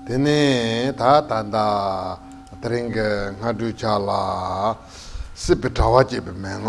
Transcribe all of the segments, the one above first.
དེ་ནས་ད་ད་ད་ད་རིང་གི་སྔ་དྲོའི་ཆ་ལ་སྲིད་པའི་དྲ་བ་ཅེས་པའི་མན་ངག་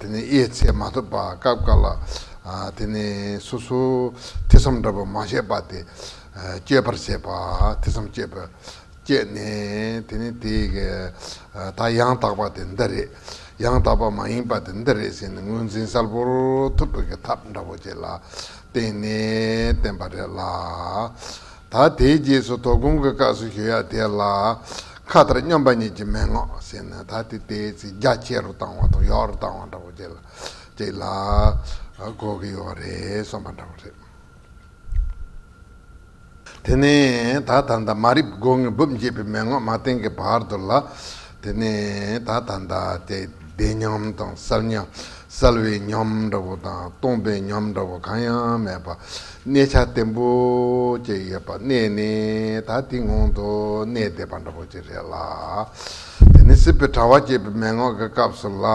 དེ་ནས་དབྱེ་ཚེ་མ་ཐོབ་པ་སྐབས་དཀའ་ལ། དེ་ནས་སོ་སོ་ཐེ་ཚོམ་འདྲ་བ་མ་བྱས་པ་སྟེ། སྤྱོད་པར་བྱེད་པ་ཐེ་ཚོམ་སྤྱོད་པས་བསྐྱེད་ནས་དེ་ནས་དེ་དག་ཡང་དག་པ་དེ་འདི་རེད། ཡང་དག་པ་མ་ཡིན་པ་དེ་འདི་རེད་ཟེར་ནས་དངོས་འཛིན་གསལ་པོར་ཐུབ་པའི་གི་ཐབས་འདྲ་བོ་བྱས་ལ་བསྟན་ནས་བསྟན་པ་རེད་ལ། ད་དེའི་རྗེས་སུ་དོ་དགོང་གི་སྐབས་སུ་ཞུ་ཡག་དེ་ལ། ཁ་ལྟར་སྙོམས་པ་ཉིད་ཀྱི་མན་ངག་བྱས་ནས་ད་དེ་དེའི་ཚེ་རྒྱ་ཆེ་རུ་བཏང་བ་དང་ཡོག་རུ་བཏང་བ་འདྲ་བོ་བྱས་ལ་བྱས་ལ་གོ་གི་ཡོག་རེད་གསུངས་པ་འདྲ་བོ་རེད། དེ་ནས་ད་ད་ལྟ་མ་རིག་སྒོ་ངའི་སྦུབས་འབྱེད་པའི་མན་ངག་མ་བསྟན་གྱི་བར་དུ་ལ། དེ་ནས་ད་ད་ལྟ་དེ་བདེ་ཉམས་དང་གསལ་ཉམས་གསལ་བའི་ཉམས་འདྲ་བོ་དང་སྟོང་པའི་ཉམས་འདྲ་བོ་གང་ཡང་མེད་པར་གནས་ཆ་བརྟན་པོ་ཅིག་ཡོད་པར་གནས་ནས་ད་དེ་སྔོན་དུ་གནས་བསྡད་པ་འདྲ་བོ་ཅིག་རེད་ལ། དེ་ནི་སྲིད་པའི་དྲ་བ་སྐྱེས་པའི་མན་ངག་གི་སྐབས་སུ་ལ།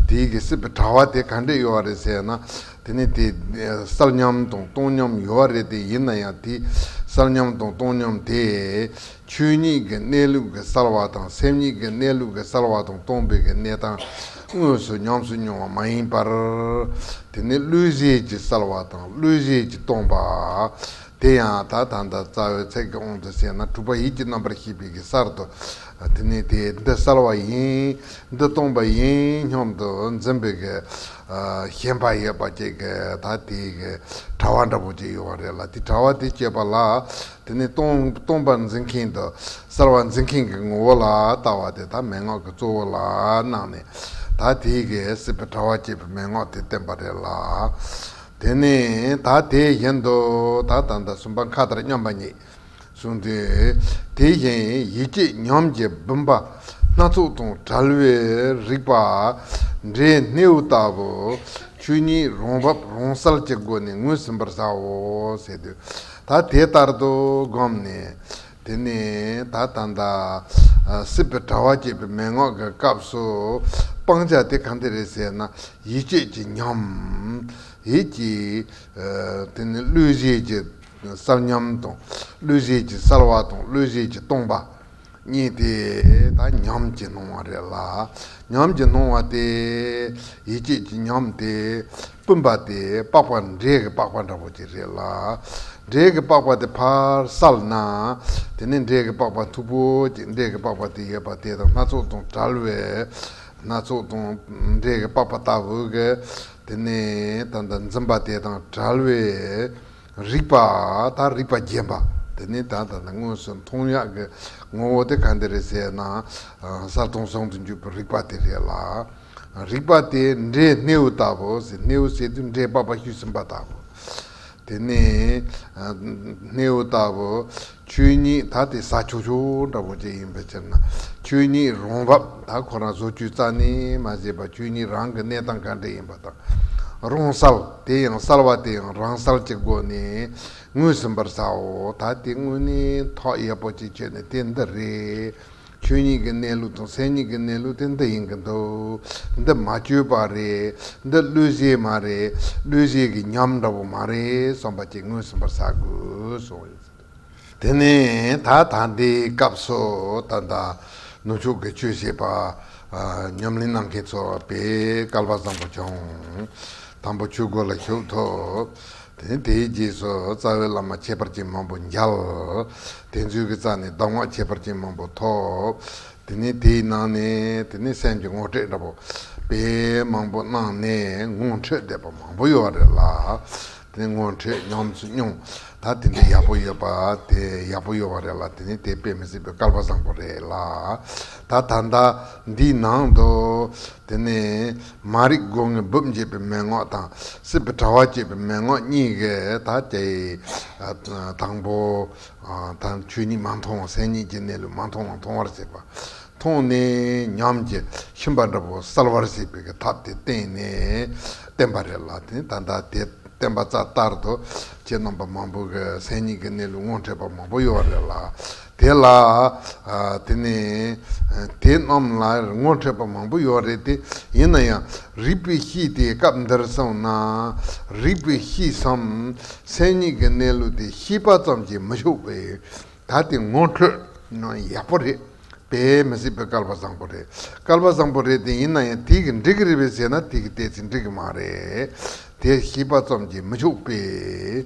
དེའི་གི་སྲིད་པའི་དྲ་བ་དེ་ག་འདྲས་ཡོད་རེད་ཟེར་ན། དེ་ནི་དེ་གསལ་ཉམས་དང་སྟོང་ཉམས་ཡོད་རེད་དེ་ཡིན་ན་ཡང་དེ་གསལ་ཉམས་དང་སྟོང་ཉམས་དེ། ཆོས་ཉིད་ཀྱི་གནས་ལུགས་ཀྱི་གསར་བ་དང་སེམས་ཉིད་ཀྱི་གནས་ལུགས་ཀྱི་གསར་བ་དང་སྟོང་པའི་གནས་སྟངས་དངོས་སུ་ཉམས་སུ་མྱོང་བ་མ་ཡིན་པར། དེ་ནི་བློས་བཤད་ཀྱི་གསར་བ་དང་བློས་བཤད་ཀྱི་སྟོང་པ། དེ་ཡང་ད་ད་ལྟ་རྩ་བའི་ཚད་ཀྱི་དབང་དུ་བྱས་ན་གྲུབ་པ་ཡིད་ཀྱི་རྣམ་པར་ཤེས་པའི་གི་གསར་དུ། དེ་ནི་དེ་འདི་གསར་བ་ཡིན། འདི་སྟོང་པ་ཡིན་སྙམ་དུ་འཛིན་པའི་གི། ཞེན་པ་ཡོད་པ་བཅས་ཀྱི་ད་དེའི་གི་དྲ་བ་འདྲ་པོ་ཅིག་ཡོད་པ་རེད་ལ་དེ་དྲ་བ་དེ་བཅད་པ་ལ་དེ་ནི་སྟོང་པར་འཛིན་མཁན་དུ་གསལ་བར་འཛིན་མཁན་གྱི་ངོ་བོ་ལ་ལྟ་བ་དེ་དག་མན་ངག་གི་གཙོ་བོ་ལ་སྣང་ནས་དག་དེའི་གེགས་སེལ་བའི་དྲ་བ་བསྐྱེད་པའི་མན་ངག་དེ་བསྟན་པ་རེད་ལ། དེ་ནས་དག་དེ་བཞིན་དུ་དག་དང་དང་གསུམ་པ་མཁའ་ལྟར་མཉམ་པ་ཉིད་གསུངས་ཏེ། དེ་བཞིན་ཡིད་ཀྱི་ཉམས་ཀྱི་བུམ་པ་སྣ་ཚོགས་དང་བྲལ་བའི་རིག་པ་འབྲས་སྣེའུ་ལྟ་བུ་ཆོས་ཉིད་རང་བབས་རང་གསལ་གྱི་སྒོ་ནས་ངོས་ཟིན་པར་བྱའོ་ཟེར་དུས། ད་དེ་ལྟར་དུ་བསྒོམས་ནས། དེ་ནས་ད་ད་ད། སྲིད་པའི་དྲ་བ་བསྐྱེད་པའི་མན་ངག་གི་སྐབས་སུ། སྤང་བྱ་དེ་གང་དེ་རེད་ཟེར་ན། ཡིད་ཆེས་ཀྱི་ཉམས། ཡིད་ཀྱི། དེ་ནི་གླུད་བཞེས་ཀྱི་གསར་ཉམས་དང། གླུད་བཞེས་ཀྱི་གསར་བ་དང་གླུད་བཞེས་ཀྱི་སྟོང་པ། གཉིས་ཏེ། ད་ཉམས་ཀྱིས་སྣང་བ་རེ་ལ་ཉམས་ཀྱིས་སྣང་བ་སྟེ། ཡིད་ཆེས་ཀྱི་ཉམས་ཏེ་སྤུན་པ་སྟེ་པགས་པ་འབྲས་ཀྱི་པགས་པ་འདྲ་བོ་ཅིག་རེ་ལ། འབྲས་ཀྱི་པགས་པ་དེ་ཕར་བསལ་ན། དེ་ནས་འབྲས་ཀྱི་པགས་པ་མཐུག་པོ་ཅིག་འབྲས་ཀྱི་པགས་པ་དེ་ཡོད་པ་དེ་དང་སྣ་ཚོགས་དང་བྲལ་བས། སྣ་ཚོགས་དང་འབྲས་ཀྱི་པགས་པ་ལྟ་བུ་ག་དེ་ནས་ད་ལྟ་འཛིན་པ་དེ་དང་བྲལ་བས། རིགས་པ་དང་རིགས་པ་རྒྱན་པ་དེ་ནི་ད་ལྟ་ནས་དངོས་སུ་མཐོང་ཡག་གི་ངོ་བོ་དེ་གང་དེ་རེད་ཟེར་ན་གསར་མཐོང་བཟང་དུ་འགྱུར་བའི་རིགས་པ་དེ་རེད་ལ། རིགས་པ་དེ་འདྲའི་སྣེའུ་ལྟ་བུ་ཟེར་སྣེའུ་ཟེར་དུས་འདྲེས་པ་པ་ཤུལ་ཟིན་པ་ལྟ་བུ། དེ་ནི་སྣེའུ་ལྟ་བུ་ཆོས་ཉིད་དག་དེ་ས་ཆོག་ཆོག་འདྲ་བོ་ཅན་ཡིན་པའི་ཕྱིར་ན་ཆོས་ཉིད་རང་བབས་དག་ཁོ་རང་བཟོ་བཅོས་རྩ་ནས་མ་བྱས་པར་ཆོས་ཉིད་རང་གི་གནས་སྟངས་ག་འདྲ་ཡིན་པ་དང། རང་གསལ་དེ་ཡང་གསལ་བ་དེ་ཡང་རང་གསལ་གྱི་སྒོ་ནས་ངོས་ཟིན་པར་བྱའོ་ད་དེ་དངོས་གནས་ཐོག་ཡག་པོ་ཅིག་ཆོད་ནས་དེ་འདི་རེད། ཆོས་ཉིད་ཀྱི་གནས་ལུགས་དང་སེམས་ཉིད་ཀྱི་གནས་ལུགས་དེ་འདི་ཡིན་གྱི་འདུག་འདི་མ་བཅོས་པ་རེད་འདི་བློས་བཤད་མ་རེད་བློས་བཤད་ཀྱི་ཉམས་འདྲ་བོ་མ་རེད་བསམ་པ་ཅིག་ངོས་ཟིན་པར་བྱ་དགོས། དེ་ནས་ད་ད་འདི་སྐབས་སུ་ད་ལྟ་ནུབ་ཕྱོགས་ཀྱི་ཆོས་བཤད་པ་ཉམས་ལེན་གནང་མཁན་ཚོ་བས་སྐལ་པ་བཟང་པོ་བྱུང། དང་པོ་ཆོས་སྒོ་ལ་ཞུགས་ཐུབ། དེ་དེའི་རྗེས་སུ་རྩ་བའི་བླ་མ་ཁྱད་པར་ཅན་མང་པོ་མཇལ། དེ་ཚུལ་གྱི་རྩ་ནས་གདམས་ངག་ཁྱད་པར་ཅན་མང་པོ་ཐོབ། དེ་ནས་དེའི་ནང་ནས་དེ་ནི་སེམས་ཀྱི་ངོ་སྤྲད་འདྲ་པོ་དཔེ་མང་པོ་གནང་ནས་ངོ་འཕྲོད་བསྡད་པ་མང་པོ་ཡོད་བ་རེད་ལ། དེ་ནས་ངོ་འཕྲོད་ཉམས་སུ་མྱོང་ད་དེ་འདྲའི་ཡག་པོ་ཡོད་པ་དེ་ཡག་པོ་ཡོད་བ་རེད་ལ་དེ་ནི་དེ་དཔེ་མི་སྲིད་པའི་སྐལ་པ་བཟང་པོ་རེད་ལ། ད་ད་ལྟ་འདིའི་ནང་དུ་དེ་ནས། མ་རིག་སྒོ་ངའི་སྦུབས་འབྱེད་པའི་མན་ངག་དང་སྲིད་པའི་དྲ་བ་བསྐྱེད་པའི་མན་ངག་གཉིས་ཀ་དག་སྟེ། དང་པོ། དང། ཆོས་ཉིད་མ་མཐོང་བ་སེམས་ཉིད་ཀྱི་གནས་ལུགས་མ་མཐོང་བ་མཐོང་བར་བྱེད་པ། མཐོང་ནས་ཉམས་ཀྱི་ཤིང་པ་འདྲ་བོ་གསལ་བར་བྱེད་པའི་ཐབས་དེ་བསྟན་ནས་བསྟན་པ་རེད་ལ། དེ་ལྟར་བསྟན་པ་རྩ་ལྟར་དུ་ཁྱེད་རྣམ་པ་མང་པོ་གིས་སེམས་ཉིད་ཀྱི་གནས་ལུགས་ངོ་འཕྲད་པ་མང་པོ་ཡོད་རེད་ལ། དེ་ལ། དེ་ནི། དེ་རྣམས་ལ་ངོ་འཕྲད་པ་མང་པོ་ཡོད་རེད་དེ། ཡིན་ན་ཡང། རིགས་པའི་གཤིས་དེ་སྐབས་འདིར་བསམས་ན། རིགས་པའི་གཤིས་སམ། སེམས་ཉིད་ཀྱི་གནས་ལུགས་དེ་ཤེས་པ་ཙམ་གྱིས་མི་ཆོག་པས། ད་དེ་ངོ་འཕྲོད་ན་ཡག་པོ་རེད། དཔེ་མི་སྲིད་པའི་སྐལ་པ་བཟང་པོ་རེད། སྐལ་པ་བཟང་པོ་རེད་དེ་ཡིན་ན་ཡང་དེས་འགྲིག་གི་རེད་བས་ཟེར་ན་དེས་གཏད་ཚེ་འགྲིག་གི་མ་རེད། དེ་ཤེས་པ་ཙམ་གྱིས་མི་ཆོག་པས།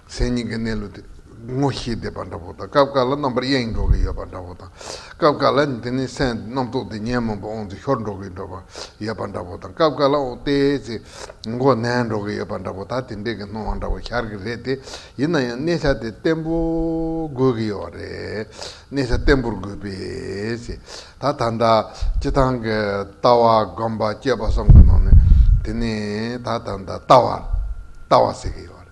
མཚན་ཉིད་ཀྱི་གནས་ལུགས་དེ་ངོ་ཤེས་བདེ་བ་འདྲ་བོ་དང་སྐབས་འགའ་ལ་རྣམ་པར་གཡེང་འགྲོ་གི་ཡོད་པ་འདྲ་བོ་དང། སྐབས་འགའ་ལ་འདི་ནི་སེམས་ཀྱི་རྣམ་རྟོག་དེ་ཉོན་མོངས་པ་དབང་དུ་ཤོར་འགྲོ་གི་འགྲོ་བ་ཡོད་པ་འདྲ་བོ་དང་སྐབས་འགའ་ལ་འོ་དེ་ཚེ་འགོ་ནད་འགྲོ་གི་ཡོད་པ་འདྲ་བོ་དག་དེ་འདྲའི་གི་སྣང་བ་འདྲ་བོ་ཤར་གི་རེད་དེ་ཡིན་ན་ཡང་གནས་ཆ་དེ་བརྟན་པོ་དགོས་གི་ཡོད་རེད་གནས་ཆ་བརྟན་པོར་དགོས་པས་ཚེ་ད་ད་འདྲ་སྤྱི་ཐང་གི་ལྟ་བ་སྒོམ་པ་སྤྱོད་པ་སོགས་ཀྱི་ནང་ནས་དེ་ནི་ད་ད་འདྲ་ལྟ་བ་ལྟ་བ་ཟེར་གི་ཡོད་རེད།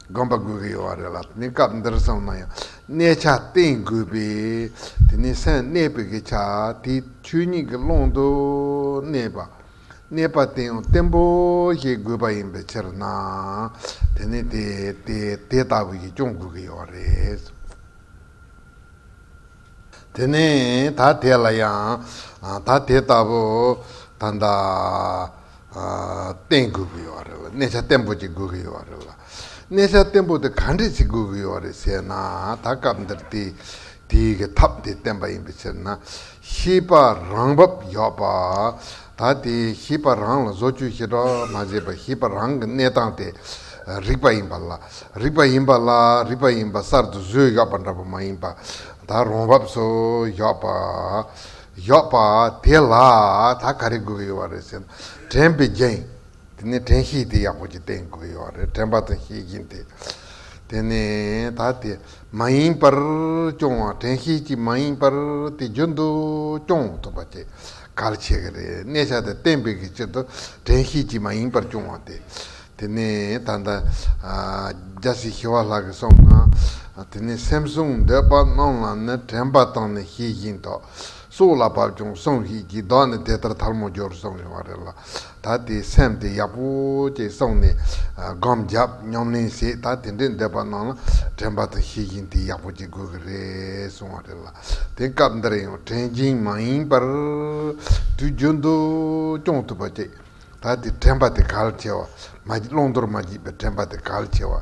དགོན་པ་དགོས་ཀྱི་ཡོད་བ་རེད་ལ་དེ་ནས་སྐབས་འདིར་སོང་ན་ཡང་གནས་ཆ་བསྟན་དགོས་པས་དེ་ནས་སེམས་གནས་པའི་གི་ཆ་དེའི་ཆོས་ཉིད་ཀྱི་ཀློང་དུ་གནས་པ་གནས་པ་བསྟན་ཡང་བརྟན་པོ་ཞིག་དགོས་པ་ཡིན་པའི་ཕྱིར་ན་དེ་ནས་དེ་དེ་ལྟ་བུ་ཞིག་སྐྱོང་དགོས་ཀྱི་ཡོད་བ་རེད། དེ་ནས་ད་དེ་ལ་ཡང་ད་དེ་ལྟ་བུ་ད་ལྟ་བསྟན་དགོས་ཀྱི་ཡོད་རེད་ལ་གནས་ཆ་བརྟན་པོ་ཅིག་དགོས་ཀྱི་ཡོད་རེད་ལ། གནས་ཆ་བརྟན་པོ་དེ་ག་འདྲས་ཅིག་དགོས་ཀྱི་ཡོད་རེད་ཟེར་ན་ད་སྐབས་འདིར་དེ་དེའི་ཐབས་དེ་བསྟན་པ་ཡིན་པའི་ཕྱིར་ན་ཤེས་པ་རང་བབས་ཡོད་པ། ད་དེ་ཞིབ་པར་རང་ལ་བཟོ་བཅོས་ཞེ་དྲག་མ་བྱས་པར་ཞིབ་པར་རང་གི་གནས་སྟངས་དེ་རིག་པ་ཡིན་པ་ལ་རིག་པ་ཡིན་པ་ལ་རིག་པ་ཡིན་པ་གསར་དུ་བཟོས་ཡོག་པ་འདྲ་པོ་མ་ཡིན་པ་ད་རུང་བབས་སུ་ཡོག་པ་ཡོག་པ་དེ་ལ་ད་ག་རེ་དགོས་ཀྱི་ཡོག་བ་རེད་ཟེར་ན་དྲན་པའི་རྒྱན་དེ་ནས་དྲན་ཤེས་དེ་ཡག་པོ་ཅིག་བསྟེན་དགོས་ཀྱི་ཡོག་རེད་དྲན་པ་དང་ཤེས་རྒྱན་དེ་དེ་ནས་ད་དེ་མ་ཡིན་པར་སྐྱོང་བ་དྲན་ཤེས་ཅིག་མ་ཡིན་པར་དེ་རྒྱུན་དུ་སྐྱོང་ཐུབ་པ་བྱེད། གར་བྱེད་ཀྱི་རེད། གནས་ཆགས་དེ་གཏན་འབེབས་ཀྱི་ཕྱིར་དུ་དྲན་ཤེས་ཀྱིས་མ་ཡིན་པར་བྱུང་བ་སྟེ། དེ་ནས་ད་ལྟ། རྒྱ་སེ་ཞི་བ་ལགས་ཀྱིས་སོང་ན། དེ་ནས་སེམས་བཟུང་འདོད་པ་རྣམས་ལ་ནི་དྲན་པ་དང་ནི་ཤེས་བཞིན་དུ། སྲོག་ལ་བབ་ཀྱང་སོང་ཤིག་ཅེས་བཟློག་ནས་དེ་ལྟར་ཐལ་མོ་སྦྱོར་སོང་བ་རེད་ལ། ད་དེ་སེམས་དེ་ཡག་པོ་ཅིག་བསྲུངས་ནས་སྒོམ་བརྒྱབ་སྙོམ་གླེང་བྱས་ད་དེ་འདྲའི་འདོད་པ་སྣང་ལ་དྲན་པ་དང་ཤེས་བཞིན་དེ་ཡག་པོ་ཅིག་དགོས་ཀྱི་རེད་གསུངས་བ་རེད་ལ་དེང་སྐབས་འདིར་ཡང་དྲན་གྱིན་མ་ཡིན་པར་དུས་རྒྱུན་དུ་སྐྱོང་ཐུབ་པ་ཅིག་ད་དེ་དྲན་པ་དེ་གལ་ཆེ་བ་མ་བརློང་དོར་མ་བགྱིད་པའི་དྲན་པ་དེ་གལ་ཆེ་བ།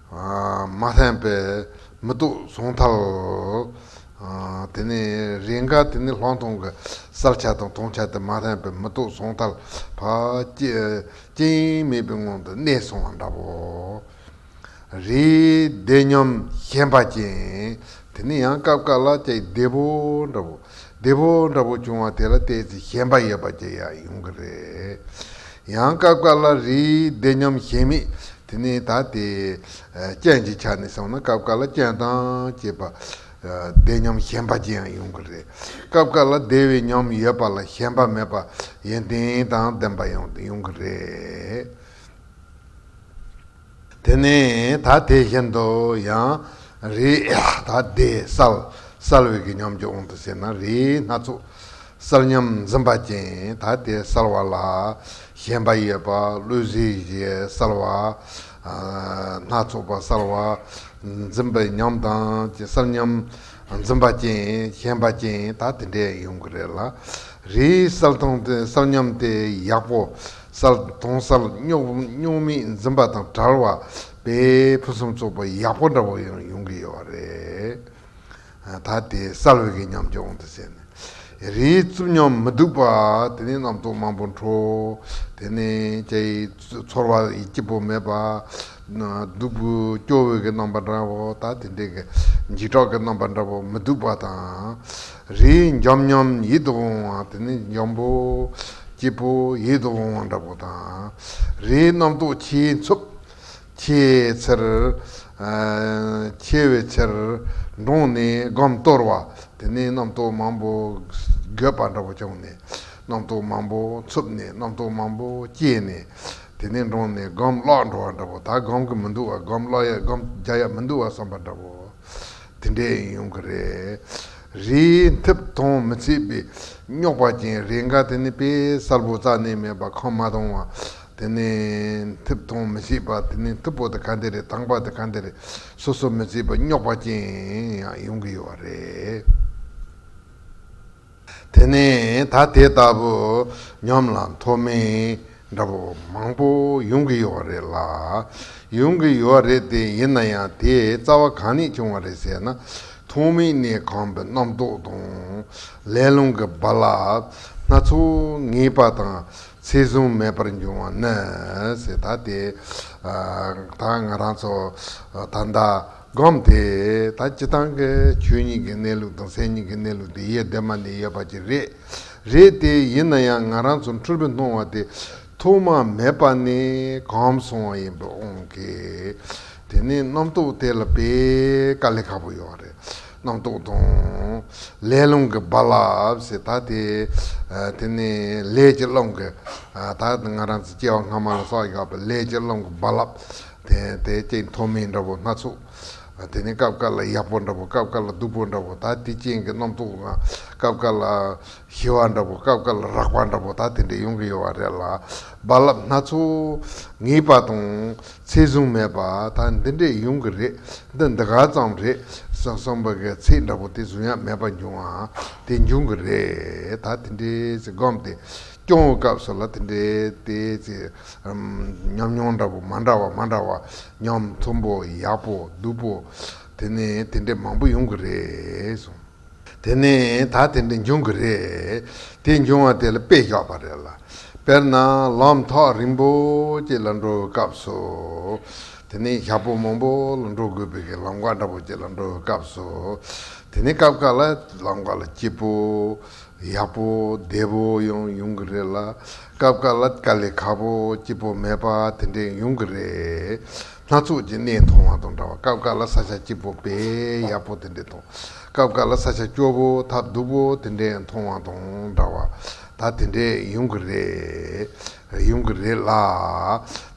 མ་ལྷན་པས་མི་སྡུག་གཟུང་ཐལ། དེ་ནས་རེས་འགའ་དེ་ནི་ལྷག་མཐོང་གི་གསལ་ཆ་དང་མཐོང་ཆ་དེ་མ་ལྷན་པས་མི་སྡུག་གཟུང་ཐལ། རྐྱེན་མེད་པའི་སྔོན་དུ་གནས་སོང་བ་འདྲ་བོ། རེས་བདེ་སྙོམས་ཞེན་པ་ཅན། དེ་ནི་ཡང་སྐབས་འགའ་ལ་ཅི་བདེ་བོ་འདྲ་བོ། བདེ་བོ་འདྲ་བོ་བྱུང་བ་དེ་ལ་བལྟས་ཚེ་ཞེན་པ་ཡོད་པ་ཅིག་ཡང་ཡོང་གི་རེད། ཡང་སྐབས་འགའ་ལ་རེས་བདེ་སྙོམས་ཞེན་མེད་དེ་ནས་ད་དེ། རྐྱེན་གྱི་ཆ་ནས་བྱུང་ན་སྐབས་འགའ་ལ་རྐྱེན་དང་བཅས་པ། བདེ་ཉམས་གཞན་པ་ཅན་ཡང་ཡོང་གི་རེད། སྐབས་འགའ་ལ་བདེ་བའི་ཉམས་ཡོད་པ་ལ་གཞན་པ་མེད་པ། ཡོན་ཏན་དང་ལྡན་པ་ཡང་ཡོང་གི་རེད། དེ་ནས་ད་དེ་བཞིན་དུ་ཡང། རེས་ད་བདེ་གསལ། གསལ་བའི་གི་ཉམས་ཀྱང་འོང་དུ་ཟེར་ན་རེས་སྣ་ཚོགས། གསར་ཉམས་འཛིན་པ་ཅན་ད་ལྟའི་གསར་བ་ལ་ཞེན་པ་ཡོད་པ་བློས་གཟི་བརྗིད་གསར་བ། སྣ་ཚོགས་པ་གསར་བ། འཛིན་པའི་ཉམས་དང་བཅས་གསར་ཉམས་འཛིན་པ་ཅན་ཞེན་པ་ཅན་ད་དེ་འདྲས་ཡོང་གི་རེད་ལ། རེད་གསར་དང་གསར་ཉམས་དེ་ཡག་པོ་གསར་དང་གསར་རྙོག་མིག་འཛིན་པ་དང་བྲལ་བ་བས་ཕུན་སུམ་ཚོགས་པ་ཡག་པོ་འདྲ་བོ་ཡང་ཡོང་གི་ཡོད་རེད། ད་དེ་སལ་བྷེ་གི་ཉམས་ཀྱི་དབང་དུ་བྱས་ནས། རིའི་རྩུབ་ཉམས་མི་སྡུག་པ་དེ་ནི་རྣམ་རྟོག་མང་པོ་འཕྲོ། དེ་ནི་ལྕེ་ཡི་ཚོར་བ་ཡི་སྐྱིད་པོ་མེད་པ། སྡུག་པོའི་སྐྱོ་བོའི་གི་རྣམ་པ་འདྲ་བོ་དང་དེ་འདྲའི་གི། འཇིགས་སྐྲག་གི་རྣམ་པ་འདྲ་བོ་མི་སྡུག་པ་དང། རིའི་འཇམ་ཉམས་ཡིད་དུ་འོང་བ་དེ་ནི་འཇམ་པོ། སྐྱིད་པོ་ཡིད་དུ་འོང་བ་འདྲ་བོ་དང། རིའི་རྣམ་རྟོག་ཆེའི་འཚུབ། ཁྱེད་ཚེར། ཁྱེད་བའི་ཚེར། འབྲོང་ནི་སྒམ་གཏོར་བ། དེ་ནས་རྣམ་རྟོག་མང་པོ། འགོད་པ་འདྲ་པོ་བྱུང་ནས། རྣམ་རྟོག་མང་པོ་འཚུབས་ནས་རྣམ་རྟོག་མང་པོ་སྐྱེས་ནས། དེ་ནས་འབྲོང་ནི་སྒམ་བརླག་འགྲོ་བ་འདྲ་པོ་ད་སྒམ་གི་མི་འདུག་བ་སྒམ་བརླག་ཡ་སྒམ་རྒྱག་ཡ་མི་འདུག་བ་བསམ་པ་འདྲ་པོ། དེ་འདྲས་ཡིན་ཡོང་གི་རེད། རི་མཐིབ་དོང་མི་ཚིག་པའི། རྙོག་པ་ཅན་རེ་འགའ་དེ་ནི་དཔེ་གསར་བོ་རྩ་ནས་མེད་པ་ཁོང་མ་མཐོང་བ། དེ་ནི་ཐིབས་མཐོང་མི་སྲིད་པ་དེ་ནི་ཐིབས་པོ་དེ་ག་འདི་རེད་དྭངས་པ་དེ་ག་འདི་རེད་སོ་སོ་མི་སྲིད་པ་རྙོག་པ་ཅན་ཡང་ཡོང་གི་ཡོད་པ་རེད། དེ་ནི་ད་དེ་ལྟ་བུ་ཉམས་ལ་མཐོ་དམན་འདྲ་པོ་མང་པོ་ཡོང་གི་ཡོད་པ་རེད་ལ། ཡོང་གི་ཡོད་རེད་དེ་ཡིན་ན་ཡང་དེའི་རྩ་བ་གང་ནས་བྱུང་བ་རེད་ཟེར་ན་མཐོང་མིན་ནི་གང་པོའི་རྣམ་རྟོག་དང་ལས་རླུང་གི་རྦ་རླབས་སྣ་ཚོགས་ངེས་པ་དང་ཚེ་གཟུངས་མེད་པར་འབྱུང་བ་ནི། ཟེར་ད་དེ། ད་ང་རང་ཚོ། ད་ཟླ། སྒོམ་དེ། ད་སྤྱི་བཏང་གི་ཆོས་ཉིད་ཀྱི་གནས་ལུགས་དང་སེམས་ཉིད་ཀྱི་གནས་ལུགས་དེ་ཡེ་གདོད་མ་ནས་ཡོད་པ་ཅིག་རེད། རེད་དེ། ཡིན་ན་ཡང་ང་རང་ཚོ་འཁྲུལ་པའི་སྣང་བ་དེ། ཐོག་མ་མེད་པ་ནས་གོམས་སོང་བ་ཡིན་པས་ཨང་ཀི། དེ་ནས་རྣམ་རྟོག་དེ་ལ་དཔེ་ཀ་ལས་ཁག་པོ་ཡོད་རེད། རྣམ་རྟོག་དང། ལས་རླུང་གི་རྦ་རླབས་ཞེས་དག་སྟེ། དེ་ནི་ལས་ཀྱི་རླུང་གི། དག་སྟེ་ང་རང་ཚོ་སྐྱེ་བ་སྔ་མ་ལ་སོགས་ཡོད་པའི་ལས་ཀྱི་རླུང་གི་རྦ་རླབས། དེ་སྐྱེ་མཐོ་དམན་འདྲ་བོ་སྣ་ཚོགས། དེ་ནི་སྐབས་སྐབས་ལ་ཡག་པོ་འདྲ་བོ་སྐབས་སྐབས་ལ་སྡུག་པོ་འདྲ་བོ་དག་དེ་ཅན་གྱི་རྣམ་རྟོག་དང། སྐབས་སྐབས་ལ་ཞི་བ་འདྲ་བོ་སྐབས་སྐབས་ལ་རགས་པ་འདྲ་བོ་དག་དེ་འདྲ་ཡོང་གི་ཡོད་པ་རེད་ལ། རྦ་རླབས་སྣ་ཚོགས་ངེས་པ་དང། ཚིག་བཟུང་མེད་པ་ད་འདི་འདྲས་ཡོང་གི་རེད་འདི་འདི་ག་ཙམ་རེད་བསམ་པ་གི་ཚིག་འདྲ་པོ་དེ་བཟུང་ཡ་མེད་པ་འབྱུང་ཨ་དེ་འབྱུང་གི་རེད་ད་དེ་འདྲས་ཚིག་སྒོམ་དེ་སྐྱོང་བའི་སྐབས་སུ་ལ་དེ་འདྲས་དེ་ཚིག་ཉམས་མྱོང་འདྲ་པོ་མ་འདྲ་བ་མ་འདྲ་བ་ཉམས་མཐུན་པོ་ཡག་པོ་སྡུག་པོ་དེ་ནས་དེ་འདྲས་མང་པོ་ཡོང་གི་རེད། དེ་ནས་ད་དེ་འདྲ་འབྱུང་གི་རེད། དེ་འབྱུང་བ་དེ་ལ་དཔེ་བཞག་པ་རེད་ལ། དཔེར་ན་ལམ་ཐག་རིང་པོ་ཅིག་ལ་འགྲོ་བའི་སྐབས་སུ། དེ་ནས་ཞག་པོ་མང་པོ་ལ་འགྲོ་དགོས་པའི་གི་ལམ་ཀ་འདྲ་པོ་ཅིག་ལ་འགྲོ་བའི་སྐབས་སུ། དེ་ནས་སྐབས་འགའ་ལ་ལམ་ཀ་ལ་སྐྱིད་པོ། ཡག་པོ་བདེ་པོ་ཡང་ཡོང་གི་རེད་ལ་སྐབས་འགའ་ལ་དཀའ་ལས་ཁག་པོ་སྐྱིད་པོ་མེད་པ་དེ་འདྲས་ཡོང་གི་རེད། སྣ་ཚོགས་ཀྱི་གནས་མཐོང་བ་དང་འདྲ་བ་སྐབས་འགའ་ལ་ས་ཆ་སྐྱིད་པོ་དཔེ་ཡག་པོ་དེ་འདྲས་དང་སྐབས་འགའ་ལ་ས་ཆ་སྐྱོ་པོ་ཐ་སྡུག་པོ་དེ་འདྲས་མཐོང་བ་དང་འདྲ་བ་ད་དེ་འདྲས་ཡོང་གི་རེད། ཡོང་གི་རེད་ལ།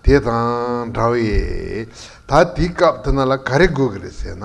དེ་དང་འདྲ་བས་ད་དེའི་སྐབས་དེ་ན་ལ་ག་རེ་དགོས་ཀྱི་རེད་ཟེར་ན།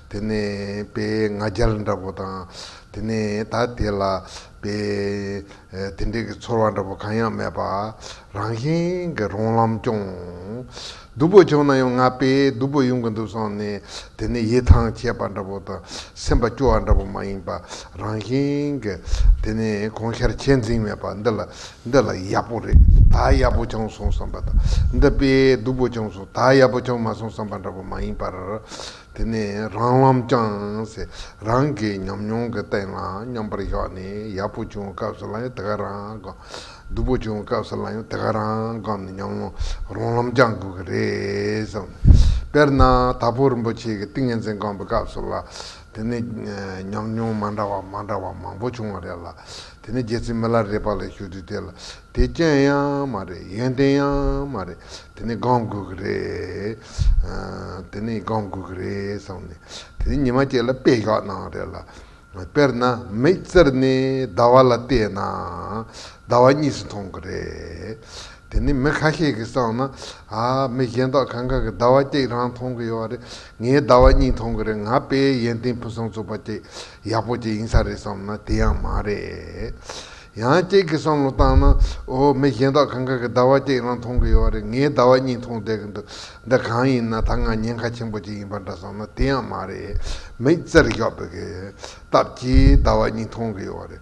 དེ་ནས་པའི་ང་རྒྱལ་འདྲ་པོ་དང། དེ་ནས་ད་དེ་ལ་པའི་དེ་འདྲས་ཀྱི་ཚོར་བ་འདྲ་པོ་གང་ཡང་མེད་པ། རང་བཞིན་གྱི་རོང་ལམ་སྐྱོང། སྡུག་པོ་བྱུང་ན་ཡང་ང་པས་སྡུག་པོ་ཡོང་གི་འདུག་བསམ་ནས་དེ་ནས་ཡིད་ཐང་ཆད་པ་འདྲ་པོ་དང་སེམས་པ་སྐྱོ་བ་འདྲ་པོ་མ་ཡིན་པ་རང་བཞིན་གྱི། དེ་ནས་གོང་ཤར་ཆད་འཛིན་མེད་པ་འདི་ལ་འདི་ལ་ཡག་པོ་རེད་ད་ཡག་པོ་བྱུང་སོང་བསམ་པ་དང། འདི་པས་སྡུག་པོ་བྱུང་སོང་ད་ཡག་པོ་བྱུང་མ་སོང་བསམ་པ་འདྲ་པོ་མ་ཡིན་པར། དེ་ནས་རང་ལམ་བསྐྱངས། རང་གི་ཉམས་མྱོང་གི་སྟེང་ལ་མཉམ་པར་བཞག་ནས་ཡག་པོ་བྱུང་བའི་སྐབས་སུ་ལ་ཡང་དེ་ག་རང་བསྒོམ། སྡུག་པོ་བྱུང་བའི་སྐབས་སུ་ལ་ཡང་དེ་ག་རང་བསྒོམ་ནས་ཉམས་མྱོང་རང་ལམ་བསྐྱང་དགོས་ཀྱི་རེད་བསམ། དཔེར་ན་དྭགས་པོ་རིན་པོ་ཆེ་གི་ཏིང་ངེ་འཛིན་བསྒོམ་པའི་སྐབས་སུ་ལ་དེ་ནས་ཉམས་མྱོང་མ་འདྲ་བ་མ་འདྲ་བ་མང་པོ་བྱུང་བ་རེད་ལ། དེ་ནས་རྒྱལ་སྲིད་མི་ལ་རས་པ་ལ་ཞུགས་དུས་དེ་ལ་དེ་རྐྱེན་ཡང་མ་རེད་ཡོན་ཏན་ཡང་མ་རེད་དེ་ནི་སྒང་དགོས་ཀྱི་རེད། དེ་ནི་སྒང་དགོས་ཀྱི་རེད་བསམ་ནས་དེ་ནི་ཉི་མ་བཅས་ལ་དཔེ་བཞག་གནང་རེད་ལ། དཔེར་ན་མིག་བཙིར་ནས་ཟླ་བ་ལ་བལྟས་ན་ཟླ་བ་གཉིས་སུ་མཐོང་གི་རེད། དེ་ནི་མི་ཁ་ཤས་ཀྱིས་བསམ་ན་ཨ་མི་གཞན་དག་གང་གང་གིས་ཟླ་བ་གཅིག་རང་མཐོང་གི་ཡོད་རེད་ངས་ཟླ་བ་གཉིས་མཐོང་གི་རེད་ང་དཔེའི་ཡོན་ཏན་ཕུན་སུམ་ཚོགས་པ་ཅིག་ཡག་པོ་ཅིག་ཡིན་ས་རེད་བསམ་ན་དེ་ཡང་མ་རེད། ཡང་སྐྱེས་ཀྱི་བསམ་བློ་བཏང་ན་འོ་མི་གཞན་དག་གང་ག་གི་ཟླ་བ་སྐྱེས་རང་མཐོང་གི་ཡོད་བ་རེད་ངའི་ཟླ་བ་གཉིས་མཐོང་བསྡད་ཀྱི་འདུག་འདི་གང་ཡིན་ན་ད་ང་ཉེན་ཁ་ཆེན་པོ་ཅིག་ཡིན་པ་འདྲ་བསམ་ན་དེ་ཡང་མ་རེད་མིག་རྩེར་ཞོག་པའི་གི་སྟབས་ཀྱིས་ཟླ་བ་གཉིས་མཐོང་གི་ཡོད་བ་རེད།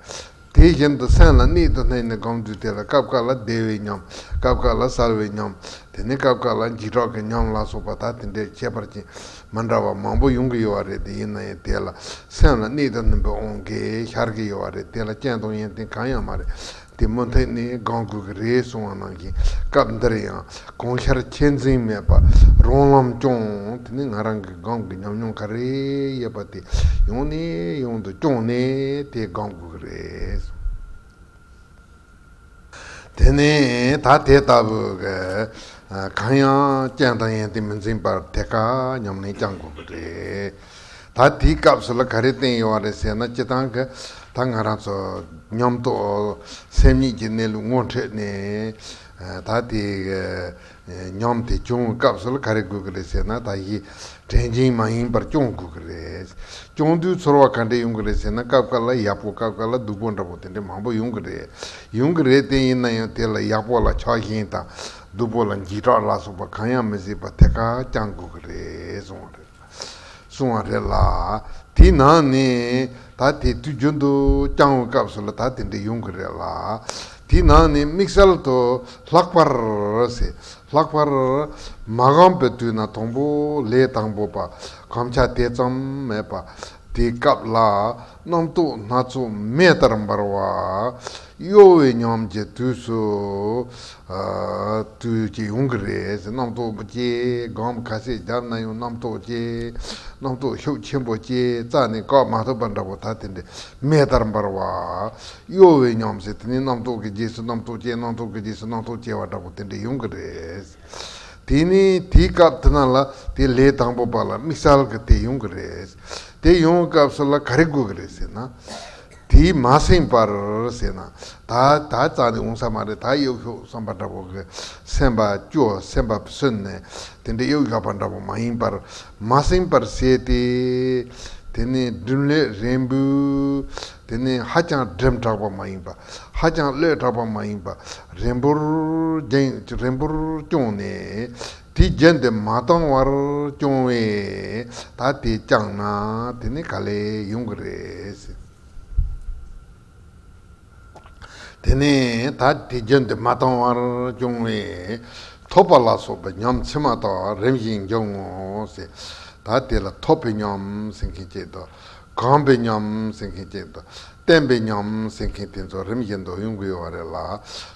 དེ་བཞིན་དུ་སེམས་ལ་སྣེ་དུ་སྣེ་ནས་སྒང་དུས་དེ་ལ་སྐབས་འགའ་ལ་བདེ་བའི་ཉམས་སྐབས་འགའ་ལ་གསར་བའི་ཉམས་དེ་ནས་སྐབས་འགའ་ལ་འཇིགས་སྐྲག་གི་ཉམས་ལ་སོགས་པ་ད་དེ་འདྲས་ཁྱད་པར་ཅན་མ་འདྲ་བ་མང་པོ་ཡོང་གི་ཡོད་བ་རེད་དེ་ཡིན་ན་ཡང་དེ་ལ་སེམས་ལ་གནས་དང་ནུམ་པའི་ཨོང་གེ་ཤར་གི་ཡོད་བ་རེད་དེ་ལ་རྐྱེན་དང་ཡོན་ཏན་གང་ཡང་མ་རེད་དེ་མུ་མཐུད་ནས་དགང་དགོས་ཀྱི་རེད་གསུང་བ་ནང་བཞིན་སྐབས་འདིར་ཡང་གང་ཤར་ཁྱད་འཛིན་མེད་པར་རང་ལམ་སྐྱོང་དེ་ནི་ང་རང་གི་དགང་གི་ཉམས་མྱོང་ག་རེ་ཡོད་པ་དེ་ཡོང་ནས་ཡོང་དུ་སྐྱོང་ནས་དེ་དགང་དགོས་ཀྱི་རེད། དེ་ནི་ད་དེ་ལྟ་བུའི་གང་ཡང་རྐྱེན་དང་ཡན་ཏན་མི་འཛིན་པར་དེ་ཀ་སྙམ་ནས་བསྐྱང་དགོས་པ་རེད། ད་དེའི་སྐབས་སུ་ལ་ག་རེ་བསྟན་ཡོད་རེད་ཟེར་ན་སྤྱི་སྟངས་ཀྱི་ད་ང་རང་ཚོ་ཉམས་རྟོགས་སེམས་ཉིད་ཀྱི་གནས་ལུགས་ངོ་འཕྲོད་ནས་ད་དེ་སྙམ་དེ་སྐྱོང་སྐབས་སུ་ལ་ག་རེ་དགོས་ཀྱི་རེད་ཟེར་ན་དག་གཞི་དྲན་ཅན་མ་ཡིན་པར་སྐྱོང་དགོས་ཀྱི་རེད། སྐྱོང་དུས་ཚོར་བ་ག་འདྲས་ཡོང་གི་རེད་ཟེར་ན་སྐབས་འགའ་ལ་ཡག་པོ་སྐབས་འགའ་ལ་སྡུག་པོ་འདྲ་པོ་དེ་འདྲས་མང་པོ་ཡོང་གི་རེད། ཡོང་གི་རེད་བསྟན་ཡིན་ན་ཡང་དེ་ལ་ཡག་པོ་ལ་ཆགས་ཞེན་དང་སྡུག་པོ་ལ་འཇིགས་སྐྲག་ལ་སོགས་པ་གང་ཡང་མི་སྲིད་པར་ཐད་ཀར་བསྐྱང་དགོས་ཀྱི་རེད་གསུངས་བ་རེད། གསུང་བ་རེད་ལ། དེས་ན་ནི། ད་དེ་དུས་རྒྱུན་དུ་བསྐྱང་བའི་སྐབས་སུ་ལ་དྭགས་དེ་འདྲ་ཡོང་གི་རེད་ལ། དེས་ན་ནི་དམིགས་བསལ་དུ་ལྷག་པར། ལྷག་པར། མ་གང་པའི་དུས་ན་དང་པོ་ལས་དང་པོ་པ་གམ་ཆ་དེ་ཙམ་མེད་པ། དེ་སྐབས་ལ་རྣམ་རྟོག་སྣ་ཚོགས་མེ་ལྟར་འབར་བ། གཡོ་བའི་ཉམས་ཀྱི་དུས་སུ། དུས་བཅད་ཡོང་གི་རེད་ཟེར་རྣམ་རྟོག་བསྐྱེད། སྒང་མོ་ཁ་ཤས་རྒྱབ་ན་ཡང་རྣམ་རྟོག་བསྐྱེད། རྣམ་རྟོག་ཤུགས་ཆེན་པོ་བསྐྱེད་རྩ་ནི་བཀག་མ་ཐུབ་པ་འདྲ་བོ་ད་དེ་འདྲའི་མེ་ལྟར་འབར་བ། གཡོ་བའི་ཉམས་ཟེར་དེ་ནི་རྣམ་རྟོག་གི་རྗེས་སུ་རྣམ་རྟོག་བསྐྱེད་རྣམ་རྟོག་གི་རྗེས་སུ་རྣམ་རྟོག་བསྐྱེད་བ་འདྲ་བོ་དེ་འདྲ་ཡོང་གི་རེད། དེ་ནི་དེའི་སྐབས་དེ་དག་ལ་དེ་ལས་དང་པོ་པ་ལ་དམིགས་བསལ་གྱི་དེ་ཡོང་གི་རེད། དེ་ཡོང་བའི་སྐབས་སུ་ལ་ག་རེ་དགོས་ཀྱི་རེད་ཟེར་ན། དེའི་མ་སེང་བར་ཟེར་ན། ད་ད་ཙག་ནས་འོང་ས་མ་རེད་ད་གཡོག་ཤོག་བསམ་པ་འདྲ་བོ་གི་སེམས་པ་སྐྱོ་སེམས་པ་སོན་ནས་དེ་འདྲ་གཡོག་ཡོད་པ་འདྲ་བོ་མ་ཡིན་པར་མ་སེང་བར་ཟེར་ཏེ། དེ་ནི་སྒྲིམ་ལེ་རན་པོའི་དེ་ནི་ཧ་ཅང་སྒྲིམ་དྲགས་པ་མ་ཡིན་པར་ཧ་ཅང་བློས་དྲགས་པ་མ་ཡིན་པ་རན་པོར་བསྐྱོང་ནས། དེ་བརྒྱད་འདི་མ་བཏང་བར་སྐྱོང་བས་ད་དེ་བསྐྱངས་ན་དེ་ནི་ག་ལས་ཡོང་གི་རེད། དེ་ནས་ད་དེ་བརྒྱད་འདི་མ་བཏང་བར་སྐྱོང་བས་ཐོད་པ་ལ་སོགས་པའི་ཉམས་ཕྱི་མ་དག་རིམ་བཞིན་འབྱུང་ངོ། ད་དེ་ལ་ཐོད་པའི་ཉམས་སེང་གེ་སྐྱེད་དོ། གང་པའི་ཉམས་ཟིན་མཁན་བཅས་དང། བསྟན་པའི་ཉམས་ཟིན་མཁན་དེ་ཚོ་རིམ་བཞིན་འདོགས་ཡོང་གི་ཡོད་པ་རེད་ལ།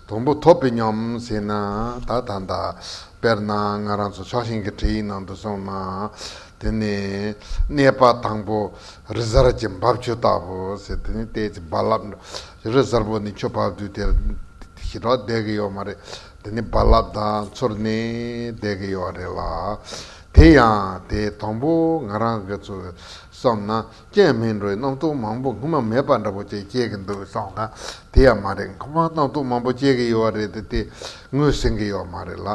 དང་པོ་ཐོབ་པའི་ཉམས་ཟིན་ནི་ད་ལྟ་འདའ། དཔེར་ན་ང་རང་ཚོ་ཕྱོགས་ཞེན་གྱི་འཕྲེད་ཡིག་ནང་དུ་སོང་ན། དེ་ནི། གནས་པ་དང་པོ། རི་གཟར་གྱི་འབབ་ཆུ་ལྟ་བུ། ཟེར་དེ་ནི་ལྟས་ཀྱི་རྦ་རླབས་འགྲོ། རི་གཟར་བོ་ནི་ཆུ་འབབ་དུས་དེར་ཞི་དྲག་བསྡད་ཀྱི་ཡོད་མ་རེད། དེ་ནི་རྦ་རླབས་དང་ཚུར་ནས་བསྡད་ཀྱི་ཡོད་རེད་ལ། དེ་ཡང་དེའི་དང་པོ་ང་རང་གི་ཚོ་བསམ་ན་རྐྱེན་མིན་འགྲོའི་རྣམ་རྟོག་མང་པོ་སྔོན་མ་མེད་པ་འདྲ་པོ་བཅས་སྐྱེ་གི་འདུག་བསམ་ན་དེ་ཡང་མ་རེད་སྔོན་མ་རྣམ་རྟོག་མང་པོ་སྐྱེ་གི་ཡོད་རེད་དེ་ངོས་ཟིན་གི་ཡོད་མ་རེད་ལ་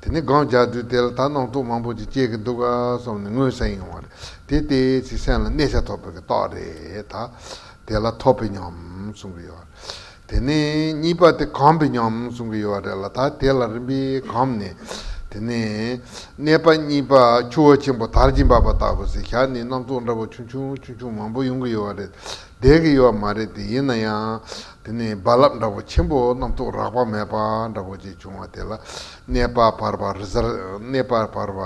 དེ་ནས་སྒང་རྒྱག་དུས་དེ་ལ་ད་རྣམ་རྟོག་མང་པོ་ཅིག་སྐྱེ་གི་འདུག་བསམ་ནས་ངོས་ཟིན་ཡོང་བ་རེད་དེ་དེ་ཚིག་སེམས་ལ་གནས་ཤ་ཐོབ་པའི་གི་རྟགས་རེད་ད་དེ་ལ་ཐོབ་པའི་ཉམས་གསུང་གི་ཡོད་རེད། དེ་ནས་གཉིས་པ་དེ་གང་བི་ཉམས་གསུང་གི་ཡོད་རེད་ལ་ད་དེ་ལ་རིམ་པས་གམ་ནི། དེ་ནས་གནས་པ་གཉིས་པ་ཆུ་བོ་ཆེན་པོ་དར་གྱིས་འབབ་པ་ལྟ་བུ་ཟེར་ཞག་ནི་སྣ་ཚོགས་འདྲ་བོ་ཆུང་ཆུང་ཆུང་ཆུང་མང་པོ་ཡོང་གི་ཡོད་རེད་བསྡད་ཀྱི་ཡོད་མ་རེད་དེ་ཡིན་ན་ཡང། དེ་ནས་རྦ་རླབས་འདྲ་བོ་ཆེན་པོ་སྣ་ཚོགས་རགས་པ་མེད་པ་འདྲ་བོ་ཅིག་བྱུང་བ་དེ་ལ་གནས་པ་བར་བ་རི་གནས་པ་བར་བ་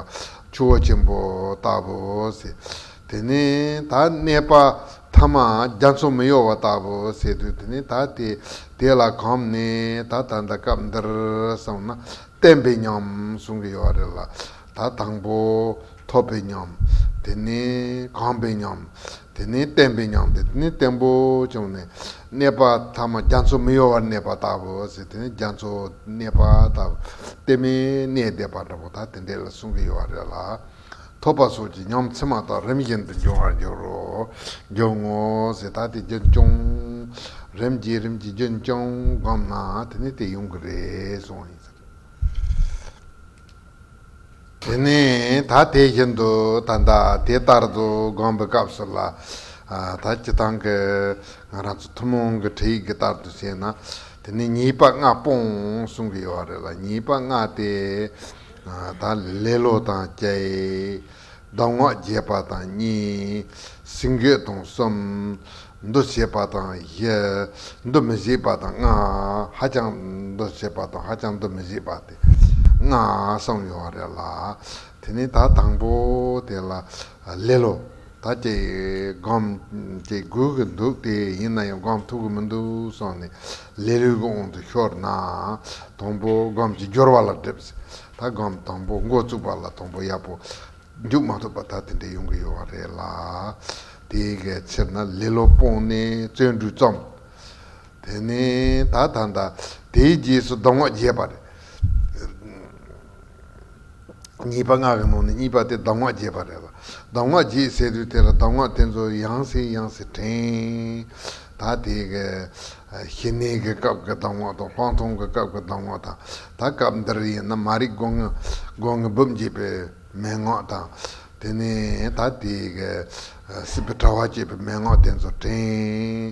ཆུ་བོ་ཆེན་པོ་ལྟ་བུ་ཟེར། དེ་ནས་ད་གནས་པ་ཐ་མ་རྒྱ་མཚོ་མི་གཡོ་བ་ལྟ་བུ་ཟེར་དུས་དེ་ནས་ད་དེ་དེ་ལ་གོམས་ནས་ད་ད་ལྟ་སྐབས་འདིར་སོང་ན་བསྟན་པའི་ཉམས་གསུང་གི་ཡོད་པ་རེད་ལ་ད་དང་པོ་ཐོབ་པའི་ཉམས་དེ་ནས་གོམས་པའི་ཉམས་དེ་ནས་བསྟན་པའི་ཉམས་དེ་ནས་བརྟན་པོ་བྱུང་ནས་གནས་པ་ཐ་མ་རྒྱ་མཚོ་མི་གཡོ་བར་གནས་པ་ལྟ་བུ་ཟེར་དེ་ནས་རྒྱ་མཚོ་གནས་པ་ལྟ་བུ་སྟེ་མི་གནས་བསྡད་པ་འདྲ་པོ་ད་དེ་འདི་ལ་གསུང་གི་ཡོད་པ་རེད་ལ། ཐོབ་པ་སོགས་ཀྱི་ཉམས་ཚད་མ་དག་རིམ་བཞིན་དུ་འབྱུང་བར་འགྱུར་རོ། འབྱུང་ངོ། ཟད་ད་དེ་རྒྱུན་སྐྱོང། རིམ་གྱིས་རིམ་གྱིས་རྒྱུན་སྐྱོང་བསྒོམས་ན་དེ་ནས་དེ་ཡོང་གི་རེད་གསུངས། དེ་ནས་ད་དེ་བཞིན་དུ་ད་ད་དེ་ལྟར་དུ་བསྒོམས་པའི་སྐབས་སུ་ལ་ད་སྤྱི་དང་གི་ང་རང་ཚོ་ཐུན་མོང་གི་ཁྲིད་ཡིག་གི་ལྟར་དུ་བྱས་ན་དེ་ནས་ཉེས་པ་ལྔ་སྤོང་གསུངས་ཀྱི་ཡོད་རེད་ལ་ཉེས་པ་ལྔ་དེ། དང། ལེ་ལོ་དང་བཅས། གདམས་ངག་རྒྱས་པ་དང་གཉིས། སྲིང་བརྗོད་དང་གསུམ། འདུ་བྱེད་པ་དང་བཞི། འདུ་མི་བྱེད་པ་དང་ལྔ། ཧ་ཅང་འདུ་བྱེད་པ་དང་ཧ་ཅང་འདུ་མི་བྱེད་པ་སྟེ་ལྔ་གསུམ་ཡོད་རེད་ལ། དེ་ནས་ད་དང་པོ་དེ་ལ། ལེ་ལོ། ད་ཁྱེད་སྒོམ་དེ་དགོས་ཀྱི་འདུག་སྟེ་ཡིན་ན་ཡང་སྒོམ་ཐུབ་ཀྱི་མི་འདུག་སོང་ནས་ལེ་ལོས་ཀྱི་དབང་དུ་ཤོར་ན། དང་པོ་སྒོམ་གྱི་སྦྱོར་བ་ལ་སྒྲིབ། ད་སྒོམ་དང་པོ་མགོ་བཙུགས་པ་ལ་དང་པོ་ཡག་པོ་འཇུག་མ་ཐུབ་པ་ད་དེ་འདྲ་ཡོང་གི་ཡོད་བ་རེད་ལ། དེའི་ག་ཕྱིར་ན་ལེ་ལོ་སྤོང་ནས་བརྩོན་འགྲུས་རྩོམ། དེ་ནས་ད་ད་ད་དེའི་རྗེས་སུ་སྡོམ་ངག་རྒྱས་པ་རེད། གཉིས་པ་སྔགས་ཀྱི་ནང་ནས་གཉིས་པ་དེ་གདམས་ངག་རྒྱས་པ་རེད་ལ། གདམས་ངག་རྒྱས་ཟེར་དུས་དེ་ལ་གདམས་ངག་དེ་ཚོ་ཡང་ཟིན་ཡང་ཟིན་དྲན། ད་དེ་གི་ཞི་གནས་ཀྱི་སྐབས་ཀྱི་གདམས་ངག་དང་ལྷག་མཐོང་གི་སྐབས་ཀྱི་གདམས་ངག་དང་ད་སྐབས་འདིར་ཡིན་ན་མ་རིག་སྒོ་ངའི་སྦུབས་འབྱེད་པའི་མན་ངག་དང། དེ་ནས་ད་དེ་གི་སྲིད་པའི་དྲྭ་བ་བསྐྱེད་པའི་མན་ངག་དེ་ཚོ་དྲན།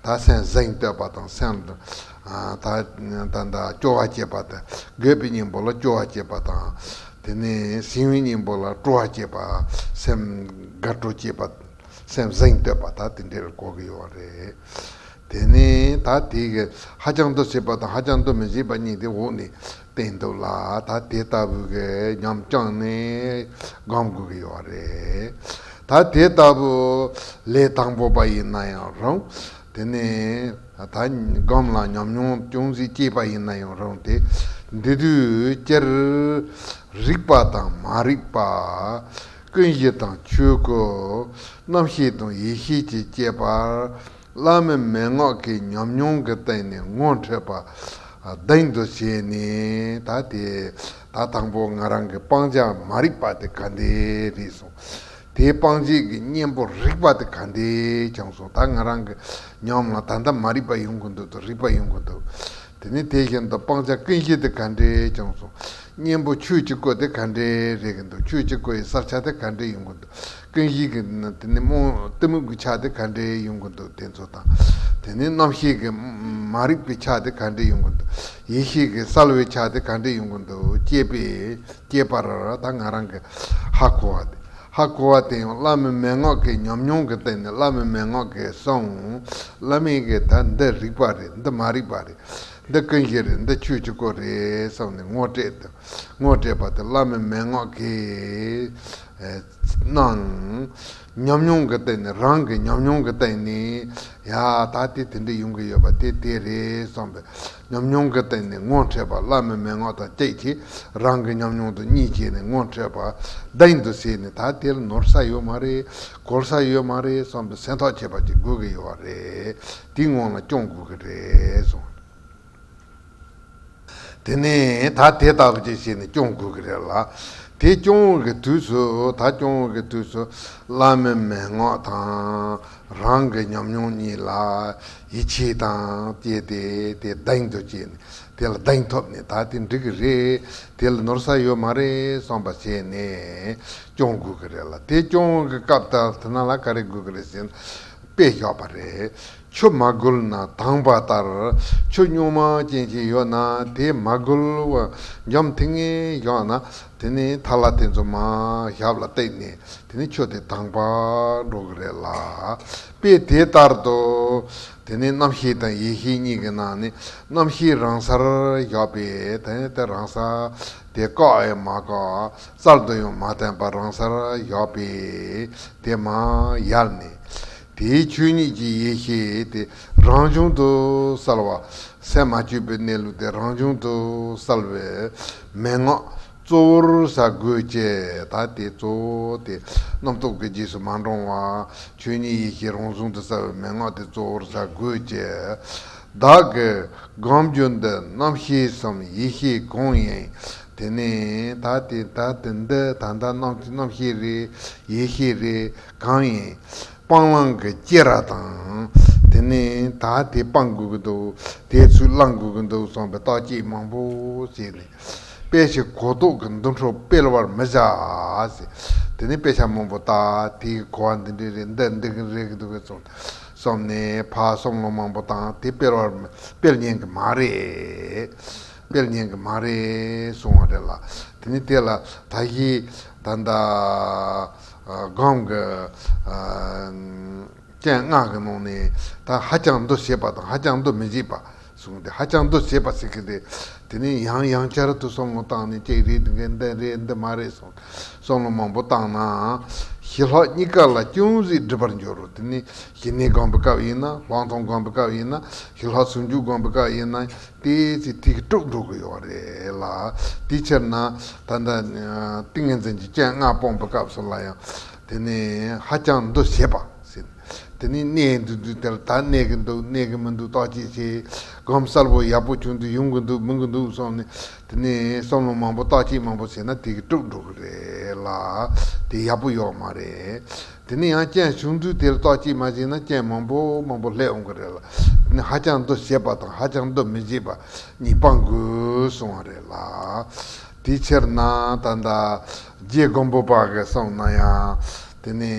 ད་སེམས་གཟེངས་བསྟོད་པ་དང་སེམས་ད་ད་སྐྱོ་བ་སྐྱེས་པ་དང་རྒོད་པའི་སྙིང་པོ་ལ་སྐྱོ་བ་སྐྱེས་པ་དང། དེ་ནས་ཟིང་བའི་སྙིང་པོ་ལ་སྤྲོ་བ་སྐྱེས་པ་སེམས་དགའ་སྤྲོ་སྐྱེས་པ་སེམས་གཟེངས་བསྟོད་པ་ད་དེ་འདྲའི་གོ་གི་ཡོད་རེད། དེ་ནས་ད་དེ་ཧ་ཅང་དུ་སྲིད་པ་དང་ཧ་ཅང་དུ་མི་སྲིད་པ་གཉིས་དེ་འོག་ནས། བསྟན་འདུག་ལ་ད་དེ་ལྟ་བུ་གི་ཉམས་བཅངས་ནས་སྒོམ་དགོས་ཀྱི་ཡོད་རེད། ད་དེ་ལྟ་བུ་ལས་དང་པོ་པ་ཡིན་ན་ཡང་རུང། དེ་ནས་ད་སྒོམ་ལ་ཉམས་མྱོང་ཅུང་ཟད་སྐྱེས་པ་ཡིན་ན་ཡང་རུང་དེ་འདི་དུས་སྤྱིར་རིག་པ་དང་མ་རིག་པ། ཀུན་གཞི་དང་ཆོས་སྐུ། རྣམ་ཤེས་དང་ཡེ་ཤེས་ཀྱི་སྐྱེས་པར་བླ་མའི་མན་ངག་གི་ཉམས་མྱོང་གི་སྟེང་ནས་ངོ་འཕྲོད་པ་གདེང་དུ་བྱས་ནས་ད་དེ་ད་དང་པོ་ང་རང་གི་སྤང་བྱ་མ་རིག་པ་དེ་ག་འདི་རེད་གསུང། དེའི་སྤང་བྱེད་ཀྱི་གཉེན་པོ་རིག་པ་དེ་ག་འདི་ཀྱང་གསུང་ད་ང་རང་གི་ཉམས་ལ་ད་ད་མ་རིག་པ་ཡོང་གི་འདུག་དོ་རིག་པ་ཡོང་གི་འདུག་དེ་ནས་དེ་བཞིན་དུ་སྤང་བྱ་ཀུན་གཞི་དེ་ག་འདི་ཀྱང་གསུང། གཉེན་པོ་ཆོས་ཀྱི་སྐུ་དེ་ག་འདི་རེད་གི་འདུག་ཆོས་ཀྱི་སྐུ་ཡི་བསགས་ཆ་དེ་ག་འདི་ཡོང་གི་འདུག་རྟེན་གཞི་གི་དེ་ནི་རྨོངས་གཏི་མུག་གི་ཆ་དེ་ག་འདྲའི་ཡོང་གི་འདུག་དེ་ཚོ་དང། དེ་ནི་རྣམ་ཤེས་ཀྱི་མ་རིག་པའི་ཆ་དེ་ག་འདྲའི་ཡོང་གི་འདུག་ཡེ་ཤེས་ཀྱི་གསལ་བའི་ཆ་དེ་ག་འདྲའི་ཡོང་གི་འདུག་ཅེས་པས་སྐྱེས་པར་ད་ང་རང་གི་ཧ་གོ་བ་དེ་ཧ་གོ་བ་དེ་ཡང་བླ་མའི་མན་ངག་གི་ཉམས་མྱོང་གི་སྟེང་ནས་བླ་མའི་མན་ངག་གིས་སོང། བླ་མས་ཀྱིས་ད་འདི་རིག་པ་རེད་འདི་མ་རིག་པ་རེད། འདི་ཀུན་གཞི་རེད་འདི་ཆོས་ཀྱི་སྐུ་རེད་བསམ་ནས་ངོ་སྤྲད་དོ། ངོ་སྤྲད་པ་དེ་བླ་མའི་མན་ངག་གིས། གནང། ཉམས་མྱོང་གི་སྟེང་ནས་རང་གི་ཉམས་མྱོང་གི་སྟེང་ནས་ཡ་ད་དེ་དེ་འདྲ་ཡོང་གི་ཡོད་པ་དེ་དེ་རེད་བསམ་པའི་ཉམས་མྱོང་གི་སྟེང་ནས་ངོ་འཕྲད་པ་བླ་མའི་མན་ངག་དང་བཅས་ཀྱིས་རང་གི་ཉམས་མྱོང་དང་གཉིས་བྱས་ནས་ངོ་འཕྲད་པ་གདེང་དུ་བྱས་ནས་ད་དེར་ནོར་ས་ཡོད་མ་རེད་གོར་ས་ཡོད་མ་རེད་བསམ་པའི་སེམས་ཐག་བཅད་པ་ཅིག་དགོས་ཀྱི་ཡོད་རེད་དེའི་སྔོན་ལ་སྐྱོང་དགོས་ཀྱི་རེད་བསམ། དེ་ནས་ད་དེ་ལྟ་བུ་ཅིག་བྱས་ནས་སྐྱོང་དགོས་ཀྱི་རེད་ལ། དེ་སྐྱོང་བའི་གི་དུས་སུ་ད་སྐྱོང་བའི་གི་དུས་སུ་བླ་མའི་མན་ངག་དང། རང་གི་ཉམས་མྱོང་གཉིས་ལ་ཡིད་ཆེས་དང་བཅས་ཏེ་དེ་གདེང་དུ་བྱས་ནས་དེ་ལ་གདེང་ཐོབ་ནས་ད་དེ་འགྲིག་གི་རེད་དེ་ལ་ནོར་ས་ཡོད་མ་རེད་བསམ་པ་བྱས་ནས་སྐྱོང་དགོས་ཀྱི་རེད་ལ་དེ་སྐྱོང་བའི་གི་སྐབས་ད་ལྟ་ན་ལ་ག་རེ་དགོས་ཀྱི་རེད་ཟེར་ན་དཔེ་ཞོག་པ་རེད། ཆུ་མ་བསྒུལ་ན་དྭངས་པ་ལྟར་ཆུ་སྨྱུག་མ་ཅན་ཞིག་ཡོད་ན་དེ་མ་བསྒུལ་བ་འཇོམས་ཐིག་ངེས་ཞོག་ན་དེ་ནི་ཐ་ལ་དེ་ཚོ་མ་ཞབས་ལ་བཏེགས་ནས་དེ་ནི་ཆུ་དེ་དྭངས་པར་འགྲོ་གི་རེད་ལ། དཔེ་དེ་ལྟར་དུ། དེ་ནི་རྣམ་ཤེས་དང་ཡེ་ཤེས་གཉིས་ཀྱི་ནང་ནས་རྣམ་ཤེས་རང་སར་བཞག་པས་དེ་དེ་རང་ས་དེ་བཀག་ཨེ་མ་བཀག་གསར་དུ་ཡང་མ་བསྟན་པར་རང་སར་བཞག་པས་དེ་མ་ཡལ་ནས་དེའི་ཆོས་ཉིད་ཀྱི་ཡེ་ཤེས་དེ་རང་བྱུང་དུ་གསལ་བ། སས་མ་བཅོས་པའི་གནས་ལུགས་དེ་རང་བྱུང་དུ་གསལ་བས་མན་ངག་གཙོ་བོར་ཟ་དགོས་ཅེས་ད་དེ་གཙོ་བོ་སྟེ་རྣམ་རྟོག་གི་རྗེས་སུ་མ་འབྲང་བར་ཆོས་ཉིད་ཡེ་ཤེས་རང་བྱུང་དུ་གསལ་བས་མན་ངག་དེ་གཙོ་བོར་ཟ་དགོས་ཀྱི། བདག་གི་སྒོམ་རྒྱུ་འདི་རྣམ་ཤེས་སམ་ཡེ་ཤེས་གང་ཡིན་དེ་ནི་ད་དེ་ད་འདི་ད་ལྟ་རྣམ་ཤེས་རེད་ཡེ་ཤེས་རེད། གང་ཡིན། སྤང་བླང་གི་སྐྱེས་ར་དང། དེ་ནས་ད་དེ་སྤང་དགོས་ཀྱི་འདུག་དེའི་ཚུལ་བླང་དགོས་ཀྱི་འདུག་གསུངས་པའི་རྟགས་ཀྱིས་མང་པོ་བྱས་ནས། དཔེ་ཞིག་གོ་ལྡོག་གི་འདུ་འཕྲོ་སྤེལ་བར་མི་བྱ། དེ་ནས་དཔེ་ཆ་མང་པོ་བཏགས་དེའི་གོ་བ་འདི་འདྲའི་རེད་འདི་འདི་གི་རེད་འདུག་གསུངས་ཏེ། གསུམ་ནས་ཕ་གསུམ་ལོ་མང་པོ་བཏང་དེ་སྤེལ་བར་སྤེལ་ཉན་གྱི་མ་རེད། སྤེལ་ཉན་གྱི་མ་རེད་གསུངས་བ་རེད་ལ། དེ་ནས་དེ་ལ་ད་གཞི་ད་ལྟ། སྒང་གི་སྤྱན་སྔགས་ཀྱི་ནང་ནས་ད་ཧ་ཅང་འདུ་བྱེད་པ་དང་ཧ་ཅང་འདུ་མི་བྱེད་པ་གསུངས་ཏེ་ཧ་ཅང་འདུ་བྱེད་པ་ཟེར་གྱི་འདུག་དེ་ནས་ཡང་ཡང་བསྐྱར་དུ་བསམ་བློ་བཏང་ནས་ཅིག་རེད་འདི་འདི་རེད་འདི་མ་རེད་གསུངས་ཏེ་བསམ་བློ་མང་པོ་བཏང་ན་ཞི་ལྷག་གཉིས་ཀ་ལ་ཅུང་ཟད་འགྲིབ་པར་འགྱུར་རོ་དེ་ནས་ཞི་གནས་སྒང་པའི་སྐབས་ཡིན་ན་ལྷག་མཐོང་སྒང་པའི་སྐབས་ཡིན་ན་ཞི་ལྷག་ཟུང་འཇུག་སྒང་པའི་སྐབས་ཡིན་ན། དེ་ཚེ་ཐིག་དཀྲུགས་འགྲོ་གི་ཡོད་རེད་ལ། དེའི་ཕྱིར་ན། ད་ལྟ། ཏིང་ངེ་འཛིན་གྱི་སྤྱན་ལྔ་སྤོང་པའི་སྐབས་སུ་ལ་ཡང། དེ་ནི། ཧ་ཅང་འདུ་བྱེད་པ། དེ་ནི་གནས་འདི་འདུག་དེར་ད་གནས་ཀྱི་འདུག་གནས་ཀྱི་མི་འདུག་རྟོག་བྱེད་ཆེ། སྒོམ་གསལ་པོ་ཡག་པོ་བྱུང་དུས་ཡོང་གི་འདུག་མི་གི་འདུག་སོགས་ནི། དེ་ནི་བསམ་བློ་མང་པོ་རྟོག་བྱེད་མང་པོ་བྱས་ན་ཐིག་དཀྲུགས་འགྲོ་གི་རེད་ལ། དེ་ཡག་པོ་ཡོད་མ་རེད། དེ་ནས་ཡང་རྐྱེན་བྱུང་ཚུལ་དེ་ལ་རྟོག་གཅིག་མ་བྱས་ན་རྐྱེན་མང་པོ་མང་པོ་ལྷད་འོང་གི་རེད་ལ། དེ་ནི་ཧ་ཅང་འདུ་བྱེད་པ་དང་ཧ་ཅང་འདུ་མི་བྱེད་པ་གཉིས་སྤང་དགོས་སོང་བ་རེད་ལ། དེའི་ཕྱིར་ན་ད་ལྟ་རྗེ་མགོན་པོ་པ་གས་གསུངས་ན་ཡང། དེ་ནི་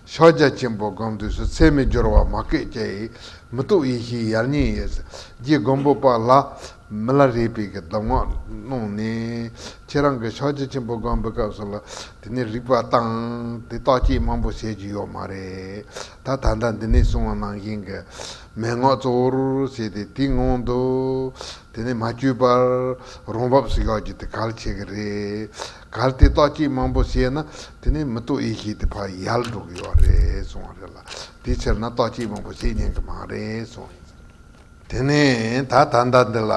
ཕྱག་རྒྱ་ཆེན་པོ་དགོངས་འདུས་སུ་ཚད་མེད་སྦྱོར་བ་མ་སྐད་ཅིག་མི་རྟོག་ཡེ་ཤེས་ཡར་ཉེ་ཡེ། རྗེ་མགོན་པོ་པ་ལ་མི་ལ་རས་པས་ཀྱི་གདམས་ངག་གནང་ནས། ཁྱེད་རང་གི་ཕྱག་རྗེས་ཆེན་པོ་སྒང་པོའི་སྐབས་སུ་ལ་དེ་ནས་རིགས་པ་བཏང། དེ་རྟགས་དཔྱད་དམངས་པོ་བྱེད་རྒྱུ་ཡོད་མ་རེད། ད་ད་ལྟ་འདི་ནས་གསུང་བ་ནང་བཞིན་གྱི་མན་ངག་གཙོ་བོར་བྱས་ཏེ་དེའི་ངང་དུ་དེ་ནས་མ་བསྐྱོད་པར་རང་བབས་སུ་གཞག་རྒྱུ་དེ་གལ་ཆེ་གི་རེད། གལ་ཏེ་རྟགས་དཔྱད་དམངས་པོ་བྱས་ན་དེ་ནས་མི་རྟོག་ཡེ་ཤེས་དེ་ཕ་ཡལ་འགྲོ་གི་ཡོད་རེད་གསུང་བ་རེད་ལ། དེའི་ཕྱིར་ན་རྟགས་དཔྱད་དམངས་པོ་བྱེད་ཉན་གི་མ་རེད་གསུང། དེ་ནས་ད་ད་ལྟ་འདི་ལ་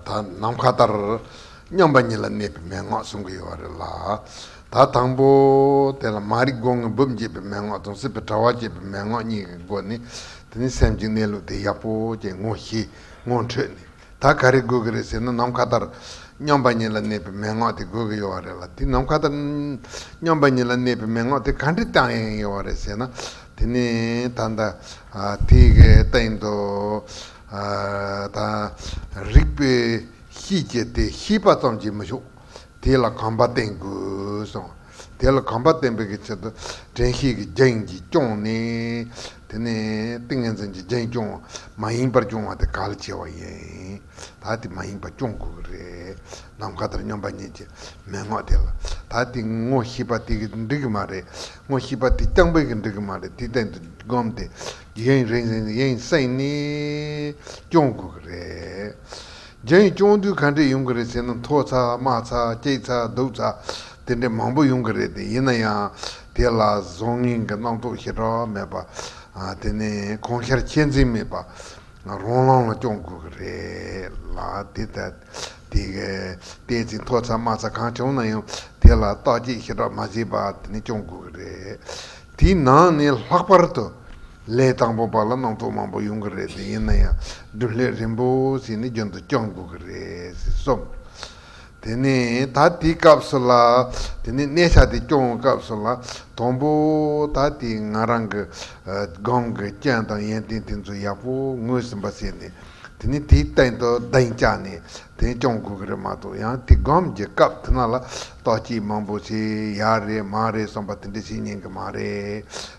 ད་ནམ་མཁའ་ལྟར་མཉམ་པ་ཉིད་ལ་གནས་པའི་མན་ངག་གསུང་གི་ཡོད་པ་རེད་ལ། ད་དང་པོ་དེ་ལ་མ་རིག་སྒོ་ངའི་སྦུབས་འབྱེད་པའི་མན་ངག་དང་སྲིད་པའི་དྲ་བ་བཅད་པའི་མན་ངག་གཉིས་ཀྱི་སྒོ་ནས་དེ་ནི་སེམས་ཀྱི་གནས་ལུགས་དེ་ཡག་པོ་ཅན་ངོ་ཤེས་ངོ་འཕྲོད་ནས། ད་ག་རེ་དགོས་ཀྱི་རེད་ཟེར་ན་ནམ་མཁའ་ལྟར་སྙོམས་པ་ཉིད་ལ་གནས་པའི་མན་ངག་དེ་དགོས་ཀྱི་ཡོད་རེད་ལ་དེ་ནམ་མཁའ་ལྟར་སྙོམས་པ་ཉིད་ལ་གནས་པའི་མན་ངག་དེ་ག་འདྲའི་རྟགས་ཡིན་ཡོད་རེད་ཟེར་ན་དེ་ནི་ད་ལྟ་དེ་གའི་སྟེང་དུ་ད་རིག་པའི་ཤེས་བྱེད་དེ་ཤེས་པ་ཙམ་གྱིས་མི་ཆོག་དེ་ལ་གང་པ་བསྟེན་དགོས་སམ། དེ་ལ་གང་པ་བསྟེན་པའི་ཆེད་དུ་དྲན་ཤེས་ཀྱི་རྒྱན་གྱིས་སྐྱོང་ནས། དེ་ནས་ཏིང་ངེ་འཛིན་གྱི་རྒྱན་སྐྱོང་བ་མ་ཡིན་པར་སྐྱོང་བ་དེ་ག་ལ་བྱེད་བ་ཡིན། ད་དེ་མ་ཡིན་པ་སྐྱོང་དགོས་ཀྱི་རེད། ནམ་མཁའ་ལྟར་སྙོམས་པ་ཉིད་ཀྱི་མན་ངག་དེ་ལ། ད་དེ་ངོ་ཤེས་པ་དེ་གིས་འགྲིག་གི་མ་རེད། ངོ་ཤེས་པ་དེ་རྐྱང་པས་ཀྱང་འགྲིག་གི་མ་རེད་དེ་སྟེང་དུ་བསྒོམས་ཏེ། རྒྱན་རིང་བསྲེལ་ནས་སྐྱོང་དགོས་ཀྱི་རེད། རྒྱ་ཡིག་སྐྱོང་དུས་ག་འདྲས་ཡོང་གི་རེད་ཟེར་ན་མཐོ་ཚགས་དམའ་ཚགས་སྐྱེག་ཚགས་སྡུག་ཚགས་དེ་འདྲས་མང་པོ་ཡོང་གི་རེད་དེ་ཡིན་ན་ཡང་དེ་ལ་བཟང་ངན་གྱི་རྣམ་རྟོག་ཞེ་དྲག་མེད་པ་དེ་ནི་གང་ཤར་ཁྱད་འཛིན་མེད་པ་རང་རང་ལ་སྐྱོང་དགོས་ཀྱི་རེད་ལ་དེ་ལྟ་སྟེ་བལྟས་ཚེ་མཐོ་ཚགས་དམའ་ཚགས་གང་བྱུང་ན་ཡང་དེ་ལ་བརྟག་དཔྱད་ཞེ་དྲག་མ་བྱས་པར་དེ་ནི་སྐྱོང་དགོས་ཀྱི་རེད་དེའི་ནང་ནས་ལྷག་པར་དུ། ལས་དང་པོ་པ་ལ་ནང་དུ་མང་པོ་ཡོང་གི་རེད་དེ་ཡིན་ན་ཡང་བདུན་ལྷས་རིན་པོ་ཆེ་ནི་རྒྱུན་དུ་སྐྱོང་དགོས་ཀྱི་རེད་ཟེར་སོང། དེ་ནས་ད་དེའི་སྐབས་སུ་ལ་དེ་ནས་གནས་ཆག་དེ་སྐྱོང་བའི་སྐབས་སུ་ལ་དང་པོ་ད་དེ་ང་རང་གི་སྒང་གི་སྤྱན་དང་ཡན་ཏན་དེ་ཚོ་ཡག་པོ་ངོས་ཟིན་པ་བྱས་ནས་དེ་ནས་དེའི་སྟེང་དུ་གདན་བཅག་ནས་དེ་སྐྱོང་དགོས་ཀྱི་རེད་མ་གཏོགས་ཡང་དེ་སྒང་གི་སྐབས་དེ་ན་ལ་རྟོག་སྐྱིད་མང་པོ་བྱས་ཡག་རེད་མ་རེད་བསམ་པ་དེ་འདྲ་བྱེད་ཉན་གི་མ་རེད།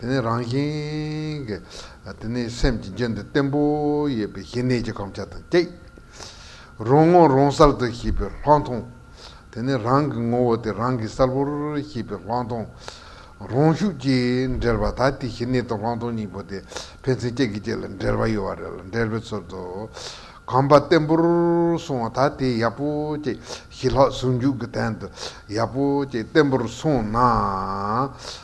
དེ་ནས་རང་བཞིན་གྱི། དེ་ནས་སེམས་ཀྱི་རྒྱུན་དུ་བརྟན་པོ་ཡོད་པའི་ཞི་གནས་ཀྱི་གོམས་ཆ་དང་བཅས། རང་ངོ་རང་གསལ་དུ་ཤེས་པའི་ལྷག་མཐོང། དེ་ནས་རང་གི་ངོ་བོ་དེ་རང་གི་གསལ་བོར་ཤེས་པའི་ལྷག་མཐོང། རང་ཤུགས་ཀྱིས་འབྲེལ་བ་ད་ལྟའི་ཞི་གནས་དང་ལྷག་མཐོང་གཉིས་པོ་དེ་ཕན་ཚུན་གཅིག་གིས་གཅིག་ལ་འབྲེལ་བ་ཡོད་བ་རེ་ལ་འབྲེལ་བའི་ཚུལ་དུ། གོམས་པ་བརྟན་པོར་སོང་བ་ད་ལྟའི་ཡག་པོ་ཅེས་ཞི་ལྷག་ཟུང་འཇུག་གི་དན་དུ་ཡག་པོ་ཅེས་བརྟན་པོར་སོང་ན།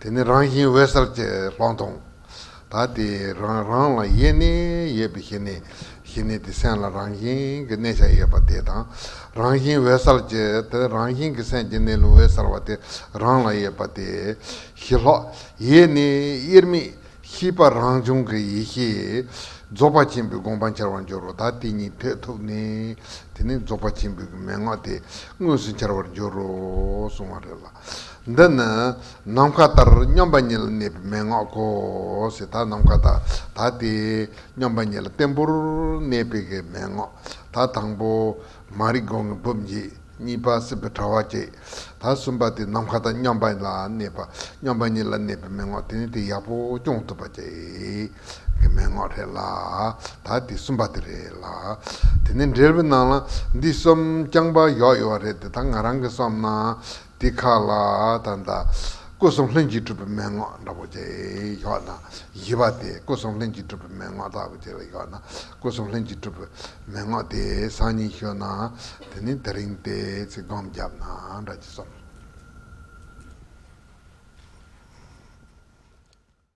དེ་ནི་རང་བཞིན་འོད་གསལ་གྱི་ལྷག་མཐོང། ད་དེ་རང་རང་ལ་ཡེ་ནས་ཡོད་པའི་ཞི་གནས། ཞི་གནས་དེ་སེམས་ལ་རང་བཞིན་གྱི་གནས་ཆ་ཡོད་པ་དེ་དང། རང་བཞིན་འོད་གསལ་གྱི་དེ་རང་བཞིན་གྱི་སེམས་ཀྱི་གནས་ལུགས་འོད་གསལ་བ་དེ་རང་ལ་ཡོད་པ་དེ། ཞི་ལྷག། ཡེ་ནས་དབྱེར་མེད་ཤེས་པ་རང་བྱུང་གི་ཡེ་ཤེས། རྫོགས་པ་ཆེན་པོའི་དགོངས་པ་འཆར་བར་འགྱུར་རོ་ད་དེ་ཉིད་ཐོད་ཐུག་ནས། དེ་ནི་རྫོགས་པ་ཆེན་པོའི་མན་ངག་དེ་དངོས་སུ་འཆར་བར་འགྱུར་རོ་གསུང་བ་རེད་ལ། འདི་ནི་ནམ་མཁའ་ལྟར་སྙོམས་པ་ཉིད་ལ་གནས་པའི་མན་ངག་གོ། ད་ནམ་མཁའ་ལྟར་ད་དེ་སྙོམས་པ་ཉིད་ལ་བརྟན་པོར་གནས་པའི་གི་མན་ངག་ད་དང་པོ། མ་རིག་སྒོ་ངའི་སྦུབས་འབྱེད་གཉིས་པ་སྲིད་པའི་དྲ་བ་བཅད། ད་གསུམ་པ་དེ་ནམ་མཁའ་ལྟར་སྙོམས་པ་ལ་གནས་པ་སྙོམས་པ་ཉིད་ལ་གནས་པའི་མན་ངག་དེ་ནི་དེ་ཡག་པོ་སྐྱོང་ཐུབ་པ་བཅད། གི་མན་ངག་རེད་ལ། ད་འདི་གསུམ་པ་དེ་རེད་ལ། དེ་ནས་འགྲེལ་པའི་ནང་ལ་འདི་གསུམ་རྐྱང་པ་ཡོག་ཡོག་རེད་དེ་ད་ང་རང་གིས་སོམས་ན། འདི་ཁ་ལ་ད་ད། སྐུ་གསུམ་ལྷན་ཅིག་གྲུབ་པའི་མན་ངག་འདྲ་པོ་ཅི་ཡོག་ན། བཞི་པ་དེ་སྐུ་གསུམ་ལྷན་ཅིག་གྲུབ་པའི་མན་ངག་ལྟ་བུ་ཅི་ལ་ཡོག་ན། སྐུ་གསུམ་ལྷན་ཅིག་གྲུབ་པའི་མན་ངག་དེ་སང་ཉིན་ཤོད་ན། དེ་ནས་དེ་རིང་དེ་ཚིག་བསྡོམས་བརྒྱབ་ན་འདྲ་ཅི་སོམས།